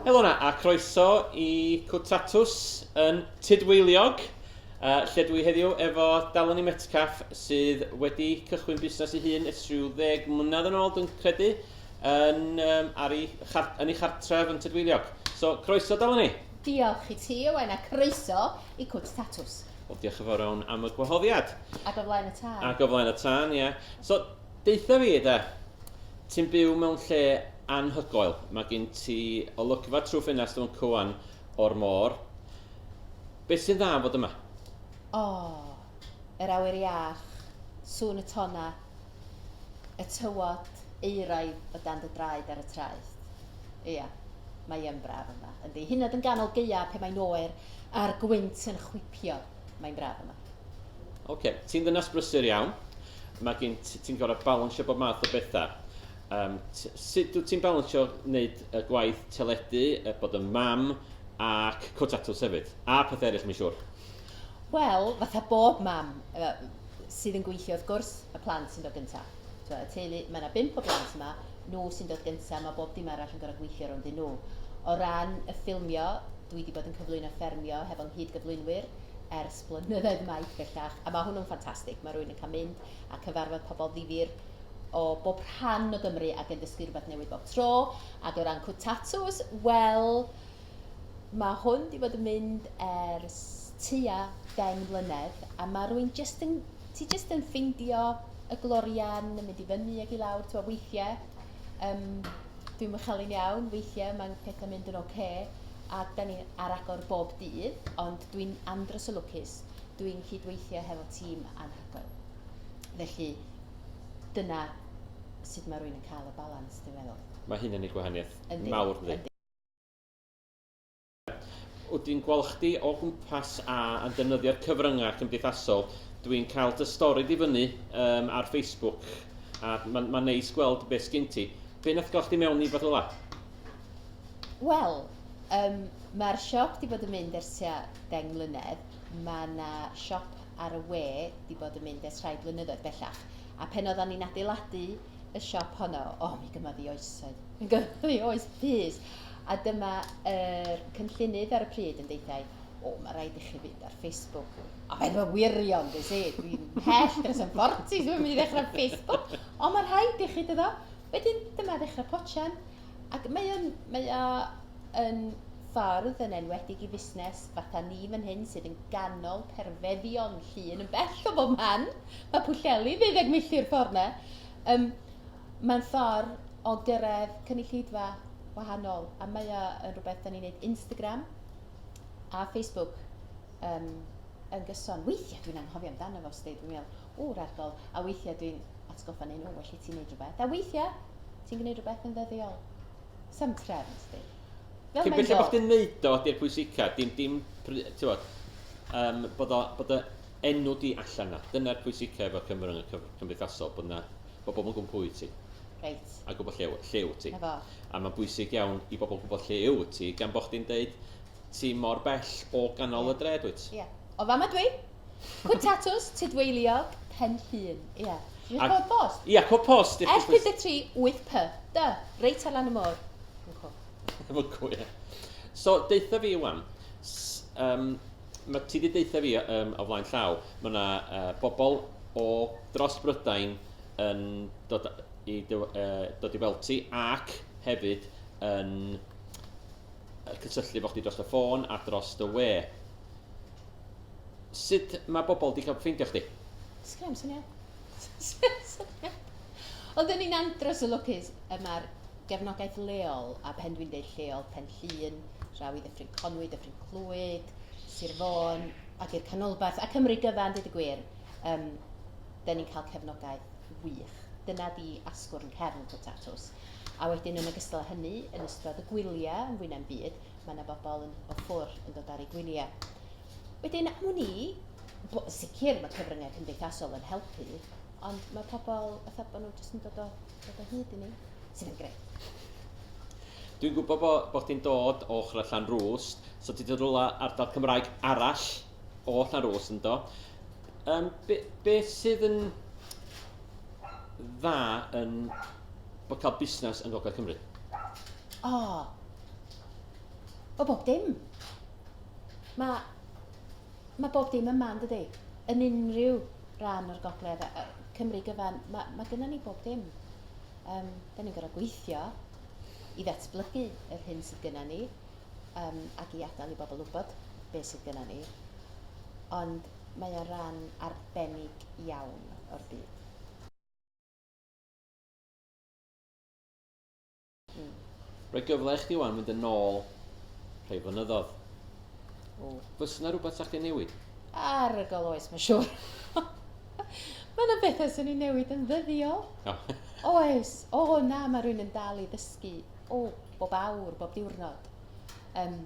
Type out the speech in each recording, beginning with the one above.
Helo na, a croeso i Cwtatws yn Tudweiliog, uh, lle dwi heddiw efo Daloni Metcalf sydd wedi cychwyn busnes ei hun ers rhyw ddeg mlynedd yn ôl, dwi'n credu, yn, um, ar ei, yn ei chartref yn Tudweiliog. So, croeso Daloni. Diolch i ti, Owen, a croeso i cwt tatws. Wel, diolch yn fawr iawn am y gwahoddiad. Ac o flaen y tân. Ac o flaen y tân, ie. So, deutha fi de, ti'n byw mewn lle anhygoel. Mae gen ti olygfa trwy ffenast o'n cywan o'r môr. Beth sy'n dda am fod yma? O, yr awyr iach, sŵn y tonnau, y tywod euraidd o dan dy draed ar y traeth. Ia, mae yn braf yma, yndi. Hyd yn oed yn ganol gaeaf pe mae'n oer a'r gwynt yn chwipio, mae'n braf yma. Oce, ti'n ddynas brysur iawn. Mae gen ti, ti'n gorfod balansio bob math o bethau. Um, sut dwi ti'n balansio wneud y gwaith teledu, bod yn mam ac cwrt tatws hefyd, a pethau eraill mae'n siŵr? Wel, fatha bob mam sydd yn gweithio, wrth gwrs, y plant sy'n dod gyntaf. Tibod, y teulu, mae yna bump o blant yma, nhw sy'n dod gyntaf, mae bob dim arall yn gorfod gweithio rownd i nhw. O ran y ffilmio, dwi 'di bod yn cyflwyno Ffermio hefo 'nghyd-gyflwynwyr ers blynyddoedd maith bellach, a mae hwnnw'n ffantastig. Mae rhywun yn cael mynd a cyfarfod pobl ddifyr o bob rhan o Gymru ac yn dysgu rhywbeth newydd bob tro. Ac o ran cwt tatŵs, wel, Mae hwn wedi bod yn mynd ers tua deng mlynedd a mae rwy'n jyst yn... ti jyst yn ffeindio y glorian yn mynd i fyny ac i lawr, ti'n gwybod, weithiau yym dwi'n mochalu'n iawn, weithiau mae pethau'n mynd yn ocê a dan ni ar agor bob dydd, ond dwi'n andros o lwcus, dwi'n cydweithio hefo tîm anhygoel. Felly dyna sut mae rwy'n cael y balans dwi'n meddwl. Mae hyn yn gwneud gwahaniaeth mawr, yn dydi? Wrth i'n gweld chdi o gwmpas a yn defnyddio'r cyfryngau cymdeithasol, dwi'n cael dy stori di fyny um, ar Facebook a mae'n ma neis gweld beth sgyn ti. Be nath gael chdi mewn i fath ola? Wel, um, mae'r siop di bod yn mynd ers tua deng mlynedd. Mae yna siop ar y we di bod yn mynd ers rhai blynyddoedd bellach. A pen oeddan ni'n adeiladu y siop honno. O, oh, mi gyma ddi oesoedd. Mi gyma ddi oes pys. A dyma yr cynllunydd ar y pryd yn deithiau, o, oh, mae rhaid i chi fynd ar Facebook. A fe ddwa wirion, dwi si, dwi'n hell dros yn fforti, dwi'n mynd i ddechrau Facebook. O, mae rhaid i chi dyddo. Wedyn, dyma ddechrau pochen. Ac mae o'n, mae o'n ffordd yn enwedig i fusnes fatha ni fan hyn sydd yn ganol perfeddion llun yn bell o bob man. Mae Pwllheli ddeuddeg milltir ffordd na. Um, mae'n ffordd o gyrraedd cynulleidfa wahanol a mae o yn rhywbeth da ni'n neud Instagram a Facebook um, yn gyson. Weithiau dwi'n anghofio amdano fo, sdi, dwi'n meddwl, w'r argol, a weithiau dwi'n atgoffa neu nhw, well i ti'n neud rhywbeth. A weithiau, ti'n gwneud rhywbeth yn ddyddiol. Sam trefn, sdi. Fel Cyn belled bod chdi'n neud o, di'r pwysica, dim, dim, tywod, um, bod, o, bod o enw di allan na. Dyna'r pwysica efo Cymru cymdeithasol, bod na, bod bobl yn gwybod pwy ti. Reit. A gwybod lle, lle wyt ti. Efo. A mae'n bwysig iawn i bobl gwybod lle yw ti, gan bod chdi'n deud ti mor bell o ganol yeah. y dre dwyt. Ie. Yeah. O fama dwi. Cwt Tatws, Tudweyliog, Pen Llŷn. Ia. Dwi'n Ac- cwrdd post. Ia, cwrdd post. If you please. S53 8 P. Dy, reit ar lan y môr. Yn cwrdd. Efo cw, ie. So, deutha fi wan. S- Yym, ma- ti 'di deutha fi yym, o flaen llaw, mae yna yy, bobl o dros Brydain yn dod i dy, yy, dod i weld ti ac hefyd yn yy, cysylltu efo chdi dros y ffôn a dros dy we. Sut mae bobl 'di cael ffeindio chdi? Sgynna i'm syniad. Ond yn ni'n andros o lwcus, y mae'r gefnogaeth leol, a phen dwi'n deud lleol, Pen Llŷn, draw i Ddyffryn Conwy, Dyffryn Clwyd, Sir Fôn, ac i'r canolbarth, a Cymru gyfan, dweud y gwir, um, dyn ni'n cael cefnogaeth wych. Dyna di asgwrn cefn Potatos. A wedyn yn ogystal â hynny, yn ystod y gwyliau yn fwy na'm byd, mae yna bobl yn o ffwr yn dod ar eu gwyliau. Wedyn, am wn i, bo, sicr mae cyfryngau cymdeithasol yn helpu, ond mae pobl, fatha bod nhw jyst yn dod o, dod o hyd i ni, sydd yn greu. Dwi'n gwybod bod bo chdi'n dod o ochr allan rŵs, so ti wedi rhywle ardal Cymraeg arall o allan rŵs yn do. Um, be, be sydd yn dda yn bod cael busnes yn Gogledd Cymru? O! O bob dim. Mae, mae bob dim yma, yn dydy? Yn unrhyw ran o'r Gogledd, Cymru gyfan, mae, mae gyda ni bob dim. Um, da ni'n gorau gweithio i ddatblygu yr hyn sydd gyda ni um, ac i adael i bobl wybod beth sydd gyda ni. Ond mae o ran arbennig iawn o'r byd. Mm. Rhoi gyfle i chdi wan mynd yn ôl rhai flynyddoedd. O. Fys yna rhywbeth sa chdi'n newid? Arygol oes, mae'n siŵr. mae yna bethau sy'n ei newid yn ddyddiol. O. oes, o na, mae rhywun yn dal i ddysgu, o, bob awr, bob diwrnod. Um,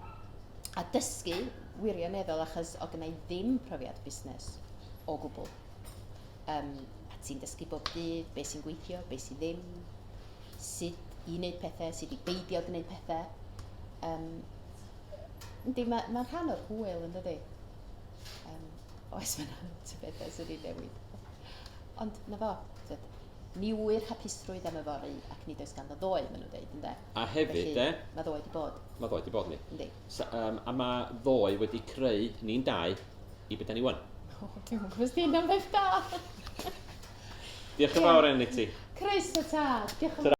a dysgu wirioneddol achos o gynnau ddim profiad busnes o gwbl. Yym, a ti'n dysgu bob dydd be sy'n gweithio, be sydd ddim, sut i wneud pethau, sut i beidio gwneud pethau. Um, yndi, mae'n ma rhan o'r hwyl yn dydy. Um, oes mae'n rhan o'r bethau sydd wedi newid. Ond na fo, tyd, ni wyr hapusrwydd am y fori ac nid oes ganddo ddoe, maen nhw'n dweud, ynddo. A hefyd, Felly, e? Mae ddoe wedi bod. Mae ddoe wedi bod ni. Yndi. So, um, a mae ddoe wedi creu ni'n dau i beth da ni wan. O, oh, dwi'n gwybod ti'n am beth da. Diolch yn fawr enni ti. Chris y tad, diolch yn fawr.